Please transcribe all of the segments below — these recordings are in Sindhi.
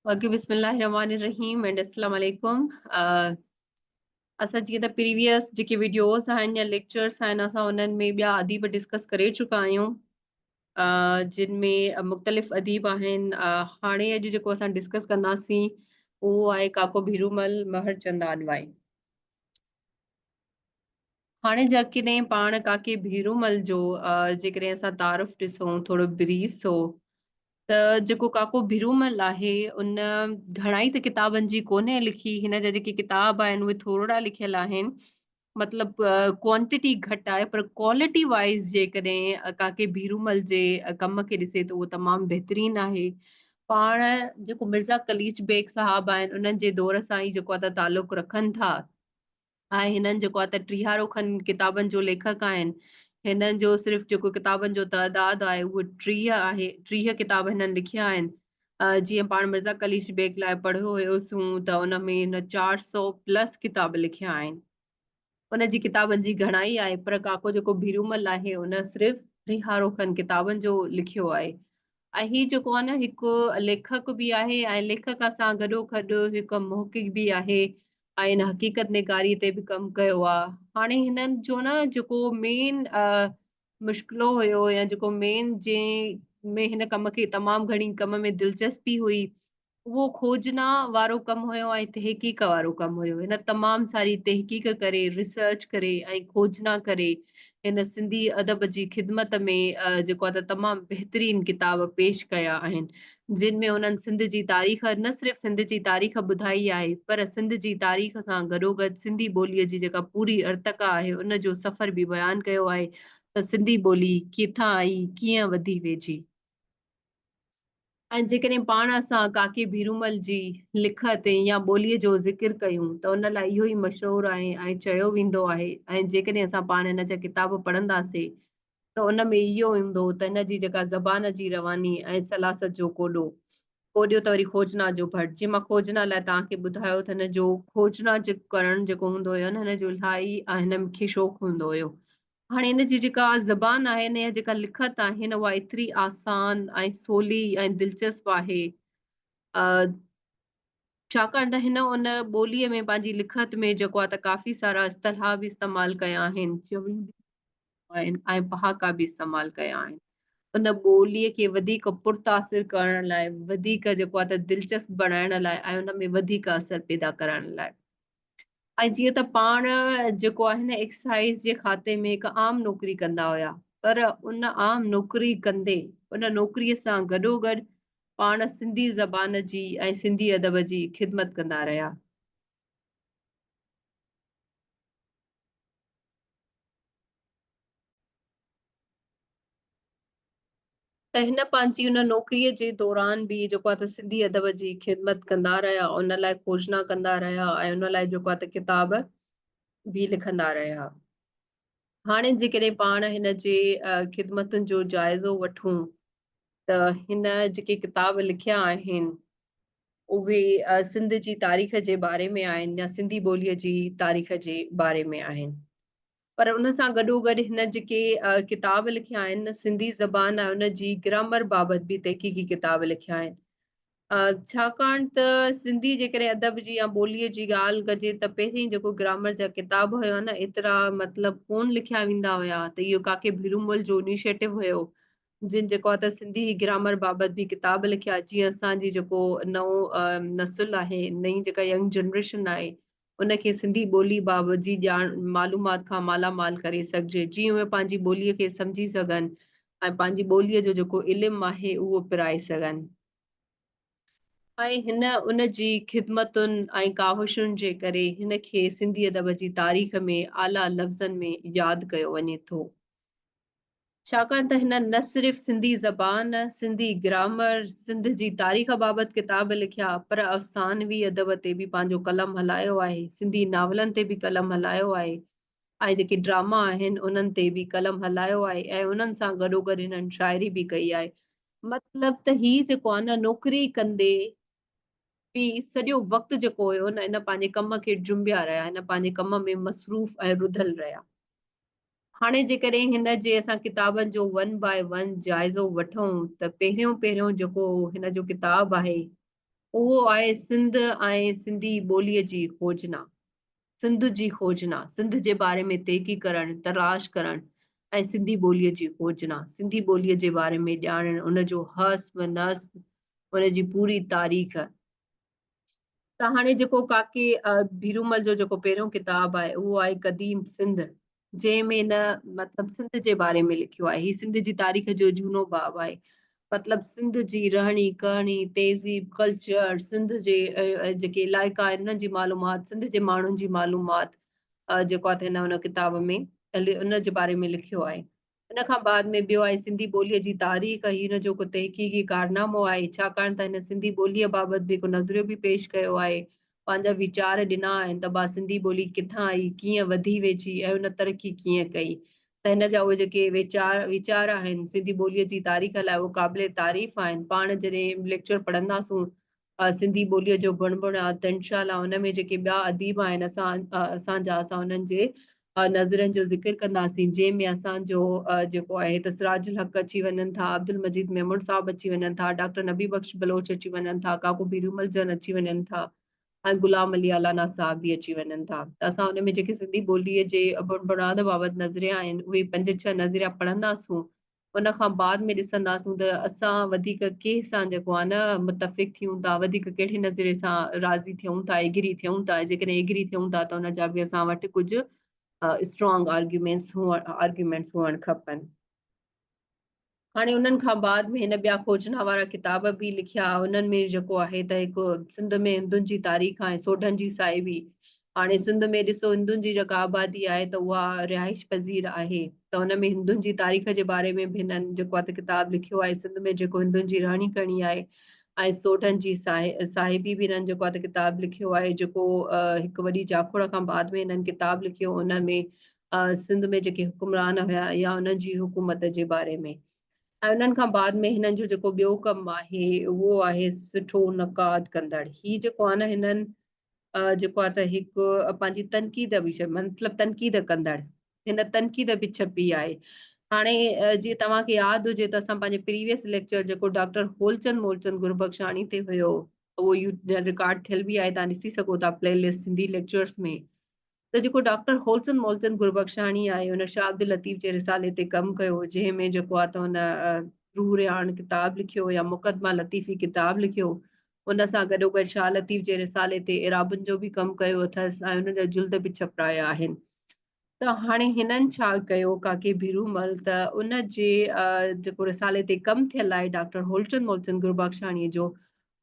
باقي بسم الله الرحمن الرحيم اينڊ السلام عليڪم اسان جي ته پريويس جيڪي ويڊيوز آهن يا ليڪچرز آهن اسان انهن ۾ ٻيا اديب ڊسڪس ڪري چڪا آهيون جن ۾ مختلف اديب آهن هاڻي اڄ جيڪو اسان ڊسڪس ڪنداسين اهو آهي ڪاڪو ڀيرومل مهر چند آڏواڻي هاڻي جيڪڏهن پاڻ ڪاڪي ڀيرومل جو جيڪڏهن اسان تعارف ڏسون ٿورو بريف سو ته جيڪو ڪاڪو ڀيرومل آهي ان گهڻائي ته ڪتابن جي ڪونهي لکي هن جا جيڪي ڪتاب آهن اهي ٿورڙا لکيل آهن مطلب ڪوانٽيٽي گهٽ آهي پر ڪوالٽي وائز جيڪڏهن ڪاڪي ڀيرومل جي ڪم کي ڏسي ته اهو تمام بهترين آهي پاڻ جيڪو مرزا قليچ بيگ صاحب آهن انهن جي دور سان ئي جيڪو تعلق رکن ٿا آهي هنن جيڪو آ ته ٽيهارو کن ڪتابن جو ليکڪ آهن هنن جو صرف جيڪو ڪتابن جو تعداد آهي اهو ٽيهه آهي ٽيهه ڪتاب هنن لکيا آهن جيئن پاڻ مرزا قليچ بيگ لاء پڙهيو هيوسون ته ان ۾ هن چار سؤ پلس ڪتاب لکيا آهن ان جي ڪتابن جي گهڻائي آهي پر ڪاڪو جيڪو ڀيرومل آهي ان صرف ٽيهارو کن ڪتابن جو لکيو آهي ۽ هي جيڪو آهي نه هڪ ليکڪ به آهي ۽ ليکڪ سان گڏو گڏ هڪ محقق به آهي آئين حقيقت نگاري تي به ڪم ڪيو آ هاڻي هنن جو نه جيڪو مين مشڪلو هيو يا جيڪو مين جي ۾ هن ڪم کي تمام گهڻي ڪم ۾ دلچسپي هئي اهو کوجنا وارو ڪم هيو ۽ تحقيق وارو ڪم هيو هن تمام ساري تحقيق ڪري ريسرچ ڪري ۽ کوجنا ڪري هن سنڌي ادب جي خدمت ۾ جيڪو آهي ته تمام بهترين ڪتاب پيش ڪيا آهن جن ۾ انهن سنڌ جي تاريخ نه صرف سنڌ جي تاريخ ٻڌائي آهي پر سنڌ جي تاريخ سان گڏوگڏ سنڌي ٻولي جي جيڪا پوري ارتقا آهي ان جو سفر به بيان ڪيو آهي ته سنڌي ٻولي ڪٿان آئي ڪيئن وڌي ويجهي ۽ جيڪڏهن پاڻ اسان ڪاڪي ڀيرومل جي لکت يا ٻوليء جو ذڪر ڪيون ته ان لاء اهو ئي مشهور آهي ۽ چيو ويندو آهي ۽ جيڪڏهن اسان پاڻ هن جا ڪتاب پڙهنداسين ته ان ۾ اهو ايندو ته هن جي جيڪا زبان جي رواني ۽ سلاست جو ڪوڏو ڪوڏيو ته وري کوجنا جو ڀٽ جي مان کوجنا لاء توهان کي ٻڌايو ته هن جو کوجنا جيڪو ڪرڻ جيڪو هوندو هيو هن جو الاهي ۽ هن کي شوق هوندو هيو هاڻي ان جي جيڪا زبان آهي ان جا جيڪا لکت آهن اها ايتري آسان ۽ سولي ۽ دلچسپ آهي ڇاڪاڻ ته هن ان ٻوليء ۾ پنهنجي لکت ۾ جيڪو آهي ته ڪافي سارا اصطلاح به استعمال ڪيا آهن چوڻيون به آهن ۽ پهاڪا به استعمال ڪيا آهن ان ٻوليء کي وڌيڪ پرتاثر ڪرڻ لاء وڌيڪ جيڪو آهي ته دلچسپ بڻائڻ لاء ۽ ان ۾ وڌيڪ اثر پيدا ڪرڻ لاء ۽ جيئن ته پاڻ جيڪو آهي نه ايڪسائيز جي کاتي ۾ هڪ عام نوڪري ڪندا هيا پر ان عام نوڪري ڪندي ان نوڪري سان گڏو گڏ پاڻ سنڌي زبان جي ۽ سنڌي ادب جي خدمت ڪندا رهيا ته هن پنهنجي ان نوڪريء جي دوران به جيڪو آهي ته سنڌي ادب جي خدمت ڪندا رهيا، ان لاء کوجنا ڪندا رهيا ۽ ان لاء جيڪو آهي ته ڪتاب به لکندا رهيا. هاڻي جيڪڏهن پاڻ هن جي خدمتن جو جائزو وٺون ته هن جيڪي ڪتاب لکيا آهن اهي سنڌ جي تاريخ جي باري ۾ آهن يا سنڌي ٻوليء جي تاريخ جي باري ۾ آهن پر ان سان گڏو گڏ هن جيڪي ڪتاب لکيا آهن سنڌي زبان ۽ ان جي گرامر بابت به تحقيقي ڪتاب لکيا آهن ڇاڪاڻ ته سنڌي جيڪڏهن ادب جي يا ٻوليء جي ڳالهه ڪجي ته پهرين جيڪو گرامر جا ڪتاب هيا نه ايترا مطلب ڪون لکيا ويندا هيا ته اهو ڪاڪي ڀيرومل جو انيشيٽو هيو جن جيڪو ته سنڌي گرامر بابت به ڪتاب لکيا جيئن اسان جي جيڪو نئون نسل آهي نئين جيڪا ينگ جنريشن آهي ان کي سنڌي ٻولي بابت جي ڄاڻ معلومات کان مالا مال ڪري سگهجي جيئن اهي پنهنجي ٻولي کي سمجهي سگهن ۽ پنهنجي ٻولي جو جيڪو علم آهي اهو پرائي سگهن ۽ هن ان جي خدمتن ۽ ڪاوشن جي ڪري هن کي سنڌي ادب جي تاريخ ۾ اعليٰ لفظن ۾ ياد ڪيو وڃي ٿو ڇاڪاڻ ته هنن نه صرف سنڌي زبان، سنڌي گرامر، سنڌ جي تاريخ بابت ڪتاب لکيا، پر افسانوي ادب تي به پنهنجو قلم هلايو آهي، سنڌي ناولن تي به قلم هلايو آهي ۽ جيڪي ڊراما آهن انهن تي به قلم هلايو آهي ۽ انهن سان گڏوگڏ هنن شاعري به ڪئي آهي. مطلب ته هي جيڪو آهي نه نوڪري ڪندي به سڄو وقت جيڪو هيو نه هن پنهنجي ڪم کي ڊرنبيا رهيا، هن پنهنجي ڪم ۾ مصروف ۽ رڌل رهيا. هاڻي جيڪڏهن هن جي اسان ڪتابن جو ون باء ون جائزو وٺون ته پهريون پهريون جيڪو هن جو ڪتاب آهي اهو آهي سنڌ ۽ سنڌي ٻولي جي کوجنا سنڌ جي کوجنا سنڌ جي باري ۾ تيقي ڪرڻ تلاش ڪرڻ ۽ سنڌي ٻولي جي کوجنا سنڌي ٻولي جي باري ۾ ڄاڻڻ ان جو حسب نسب ان جي پوري تاريخ ته هاڻي جيڪو ڪاڪي ڀيرومل جو جيڪو پهريون ڪتاب آهي اهو آهي قديم سنڌ جنهن ۾ نه مطلب سنڌ جي باري ۾ لکيو آهي هي سنڌ جي تاريخ جو جهونو باب آهي مطلب سنڌ جي رهڻي ڪهڻي تهذيب ڪلچر سنڌ جي جيڪي علائقا آهن انهن جي معلومات سنڌ جي ماڻهن جي معلومات جيڪو آهي هن ان ڪتاب ۾ ان جي باري ۾ لکيو آهي ان کان بعد ۾ ٻيو آهي سنڌي ٻوليء جي تاريخ، هي ان جو هڪ تحقيقي ڪارنامو آهي، ڇاڪاڻ ته هن سنڌي ٻوليء بابت به هڪ نظريو به پيش ڪيو آهي، پنهنجا ويچار ڏنا آهن ته ڀا سنڌي ٻولي ڪٿان آئي، ڪيئن وڌي ويجهي ۽ هن ترقي ڪيئن ڪئي ته هن جا اهي جيڪي ويچار ويچار آهن سنڌي ٻوليء جي تاريخ لاء اهي قابل تعريف آهن، پاڻ جڏهن ليڪچر پڙهنداسون سنڌي ٻوليء جو بڻ بڻ آ ته انشاء الله ان ۾ جيڪي ٻيا اديب آهن اسان اسان جا اسان انهن جي نظرين جو ذڪر ڪنداسين جنهن ۾ اسان جو جيڪو آهي ته سراج الحق اچي وڃن ٿا عبدالمجيد ميمڻ صاحب اچي وڃن ٿا ڊاڪٽر نبي بخش بلوچ اچي وڃن ٿا ڪاڪو بيرومل جن اچي وڃن ٿا ۽ غلام علي الانا صاحب به اچي وڃن ٿا ته اسان ان ۾ جيڪي سنڌي ٻوليء جي بڻ بڻاد بابت نظريا آهن اهي پنج ڇهه نظريا پڙهنداسون ان کان بعد ۾ ڏسنداسون ته اسان وڌيڪ ڪنهن سان جيڪو آهي نه متفق ٿيون ٿا وڌيڪ ڪهڙي نظريي سان راضي ٿيون ٿا ايگري ٿيون ٿا جيڪڏهن ايگري ٿيون ٿا ته ان جا به اسان وٽ ڪجهه اسٽرانگ آرگيومينس هئڻ آرگيومينس هئڻ کپن هاڻي انهن کان بعد ۾ هن ٻيا کوجنا وارا ڪتاب به لکيا انهن ۾ جيڪو آهي ته هڪ سنڌ ۾ هندن جي تاريخ ۽ سوڍن جي سائي هئي هاڻي سنڌ ۾ ڏسو هندن جي جيڪا آبادي آهي ته اها رهائش پذير آهي ته ان ۾ هندن جي تاريخ جي باري ۾ به هنن جيڪو آهي ته ڪتاب لکيو آهي سنڌ ۾ جيڪو هندن جي رهڻي ڪهڻي آهي ۽ سوڍن جي صاحبي به هنن جيڪو آهي ته ڪتاب لکيو آهي جيڪو هڪ وڏي جاکوڙ کان بعد ۾ هنن ڪتاب لکيو ان ۾ سنڌ ۾ جيڪي حڪمران هيا يا انهن جي حڪومت جي باري ۾ ۽ انهن کان بعد ۾ هنن جو جيڪو ٻيو ڪم آهي اهو آهي سٺو نقاد ڪندڙ هي جيڪو آهي نه هنن جيڪو آهي ته هڪ پنهنجي تنقيد به چئبو مطلب تنقيد ڪندڙ هن تنقيد به ڇپي آهي هاڻي جي توهان کي ياد هجي ته اسان پنهنجي پريويس ليڪچر جيڪو ڊاڪٽر هولچند مولچند گربخشاڻي تي هيو اهو رڪارڊ ٿيل به آهي تان ڏسي سگهو ٿا پلي لسٽ سنڌي ليڪچرز ۾ ته جيڪو ڊاڪٽر هولسن مولسن گربخشاڻي آهي هن شاهه عبداللطيف جي رسالي تي ڪم ڪيو جنهن ۾ جيڪو آ ته هن روح رياڻ ڪتاب لکيو يا مقدمه لطيفي ڪتاب لکيو ان سان گڏوگڏ شاهه لطيف جي رسالي تي اعرابن جو به ڪم ڪيو اٿس ۽ ان جا جلد به ڇپرايا آهن ته هاڻي هنن ڇا ڪيو ڪاڪي ڀيرو مل ته ان جي جيڪو رسالي تي ڪم ٿيل آهي ڊاڪٽر هولچند مولچند گربخشاڻي جو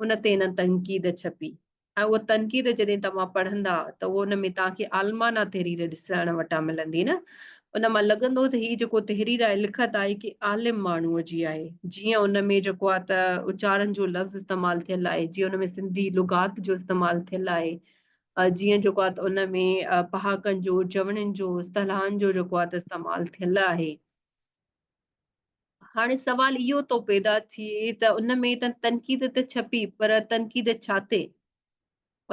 ان تي هنن تنقيد ڇپي ۽ اها تنقيد جڏهن توهان پڙهندا ته اهو ان ۾ توهان کي عالمانه تحرير ڏسڻ وٽان ملندي نه ان مان لڳندو ته هي جيڪو تحرير آهي لکت آهي ڪي عالم ماڻهوء جي آهي جيئن ان ۾ جيڪو آهي ته اچارن جو لفظ استعمال ٿيل آهي جيئن ان ۾ سنڌي لغات جو استعمال ٿيل آهي جيئن جيڪو آهي ته ان ۾ پهاڪن جو چوڻين جو اصطلاحن جو جيڪو آهي ته استعمال ٿيل آهي هاڻي سوال اهو ٿو پيدا ٿئي ته ان ۾ ته تنقيد ته ڇپي پر تنقيد ڇا تي؟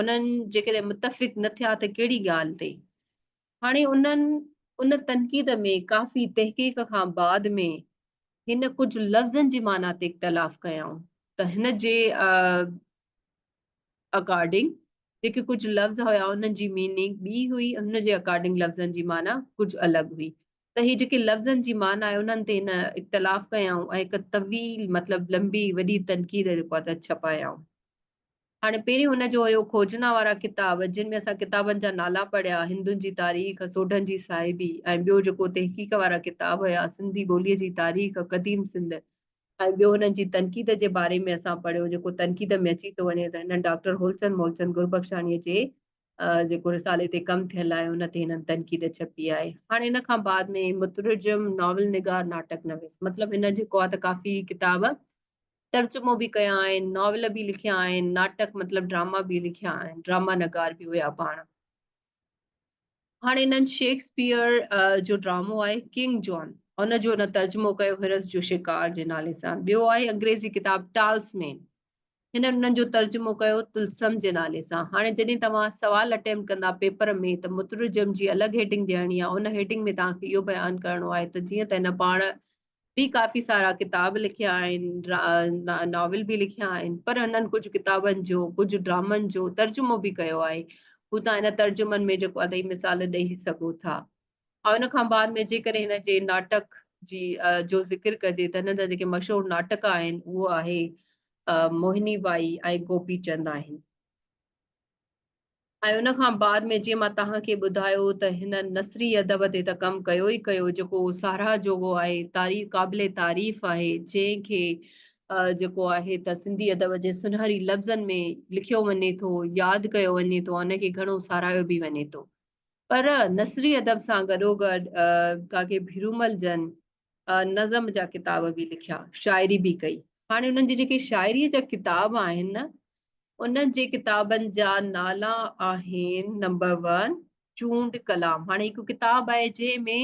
انهن جيڪڏهن متفق نه ٿيا ته ڪهڙي ڳالهه تي؟ هاڻي انهن ان تنقيد ۾ ڪافي تحقيق کان بعد ۾ هن ڪجهه لفظن جي معنيٰ تي اختلاف ڪيائون ته هن جي اڪارڊنگ جيڪي ڪجهه لفظ هيا انهن جي ميننگ ٻي هئي ان جي اڪارڊنگ لفظن جي معنيٰ ڪجهه الڳ هئي ته هي جيڪي لفظن جي معنيٰ آهي انهن تي هن اختلاف ڪيائون ۽ هڪ طويل مطلب لنبي وڏي تنقيد جيڪو آهي ته ڇپايائون. هاڻي پهرين هن جو هيو کوجنا وارا ڪتاب جن ۾ اسان ڪتابن جا نالا پڙهيا، هندن جي تاريخ، سوڍن جي صاحبي ۽ ٻيو جيڪو تحقيق وارا ڪتاب هيا، سنڌي ٻوليء جي تاريخ، قديم سنڌ ۽ ٻيو هنن جي تنقيد جي باري ۾ اسان پڙهيو جيڪو تنقيد ۾ اچي ٿو وڃي ته هنن ڊاڪٽر هولچند مولچند گربخشاڻيء جي جيڪو رسالي تي ڪم ٿيل آهي ان تي هنن تنقيد ڇپي آهي هاڻي ان کان بعد ۾ مترجم ناول نگار ناٽڪ نويس مطلب هن جيڪو آهي ته ڪافي ڪتاب ترجمو به ڪيا آهن ناول به لکيا آهن ناٽڪ مطلب ڊراما به لکيا آهن ڊراما نگار به هيا پاڻ هاڻي هنن شيڪسپيئر جو ڊرامو آهي ڪنگ جون ان جو هن ترجمو ڪيو هرس جو شڪار جي نالي سان ٻيو آهي انگريزي ڪتاب ٽالس مين هن انهن جو ترجمو ڪيو طلسم جي نالي سان. هاڻي جڏهن توهان سوال اٽيمپٽ ڪندا پيپر ۾ ته مترجم جي الڳ هيڊنگ ڏيڻي آهي. ان هيڊنگ ۾ توهان کي اهو بيان ڪرڻو آهي ته جيئن ته هن پاڻ به ڪافي سارا ڪتاب لکيا آهن، ناول به لکيا آهن پر هنن ڪجهه ڪتابن جو، ڪجهه ڊرامن جو ترجمو به ڪيو آهي. هو توهان هن ترجمن ۾ جيڪو اڌ ئي مثال ڏئي سگهو ٿا. ۽ ان کان بعد ۾ جيڪڏهن هن جي ناٽڪ جي جو ذڪر ڪجي ته هن جا جيڪي مشهور ناٽڪ آهن اهو آهي موهني بائي ۽ گوپي چند آهن ۽ ان کان بعد ۾ جيئن مان توهان کي ٻڌايو ته هن نثري ادب تي ته ڪم ڪيو ئي ڪيو جيڪو ساراهه جوڳو آهي تعريف قابل تعريف آهي جنهن کي جيڪو آهي ته سنڌي ادب جي سنهري لفظن ۾ لکيو وڃي ٿو ياد ڪيو وڃي ٿو ان کي گهڻو ساراهيو به وڃي ٿو پر نثري ادب سان گڏوگڏ ڪاڪي ڀيرومل جن نظم جا ڪتاب به لکيا شاعري به ڪئي هاڻي انهن جي جيڪي شاعري جا ڪتاب آهن انهن جي ڪتابن جا نالا آهن نمبر ون چونڊ ڪلام هاڻي هڪ ڪتاب آهي جنهن ۾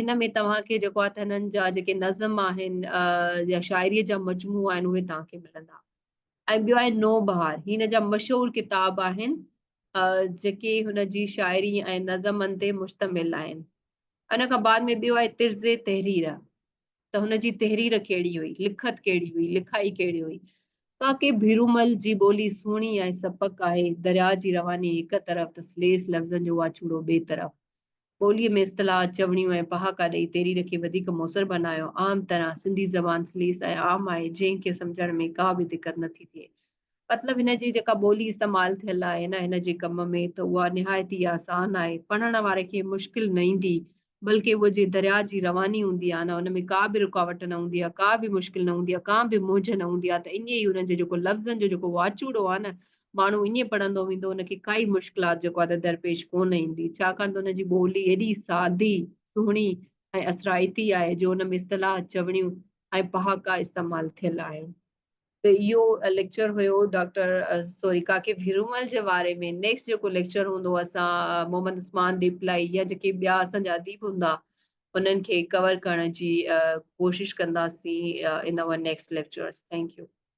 هن ۾ توهان کي جيڪو آهي هنن جا جيڪي نظم آهن يا شاعري جا مجموعا آهن اهي توهان کي ملندا ۽ ٻيو آهي نو بهار هي هن جا مشهور ڪتاب آهن جيڪي هن جي شاعري ۽ نظمن تي مشتمل آهن ان کان بعد ۾ ٻيو آهي طرز تحرير ته هن جي تحرير ڪهڙي هئي لکت ڪهڙي هئي لکائي ڪهڙي هئي ڪاڪي ڀيرومل جي ٻولي سهڻي ۽ سپڪ آهي درياء جي رواني هڪ طرف ته سليس لفظن جو واچوڙو ٻئي طرف ٻوليء ۾ اصطلاحات، چوڻيون ۽ پهاڪا ڏئي تحرير کي وڌيڪ موثر بنايو. عام طرح سنڌي زبان سليس ۽ عام آهي، جنهن کي سمجهڻ ۾ ڪا به دقت نه ٿي ٿئي. مطلب هن جي جيڪا ٻولي استعمال ٿيل آهي نه هن جي ڪم ۾ ته اها نهايت ئي آسان آهي، پڙهڻ واري کي مشڪل نه ايندي، بلڪه اهو جيئن درياء جي رواني هوندي آهي نه ان ۾ ڪا به رڪاوٽ نه هوندي آهي، ڪا به مشڪل نه هوندي آهي، ڪانه به مونجهه نه هوندي آهي ته ائين ئي انهن جو جيڪو لفظن جو جيڪو واچوڙو آهي نه ماڻهو ائين پڙهندو ويندو ان کي ڪائي مشڪلات جيڪو آهي ته درپيش ڪونه ايندي ڇاڪاڻ ته ان جي ٻولي ايڏي سادي سهڻي ۽ اثرائتي آهي جو ان ۾ اصطلاح چوڻيون ۽ پهاڪا استعمال ٿيل آهن. ته اهو ليڪچر هيو ڊاڪٽر سوري ڪاڪي ڀيرومل جي واري ۾ نيڪسٽ جيڪو ليڪچر هوندو اسان محمد عثمان ڏيپلائي يا جيڪي ٻيا اسان جا اديب هوندا انهن کي ڪور ڪرڻ جي ڪوشش ڪنداسين ان over next lectures thank U.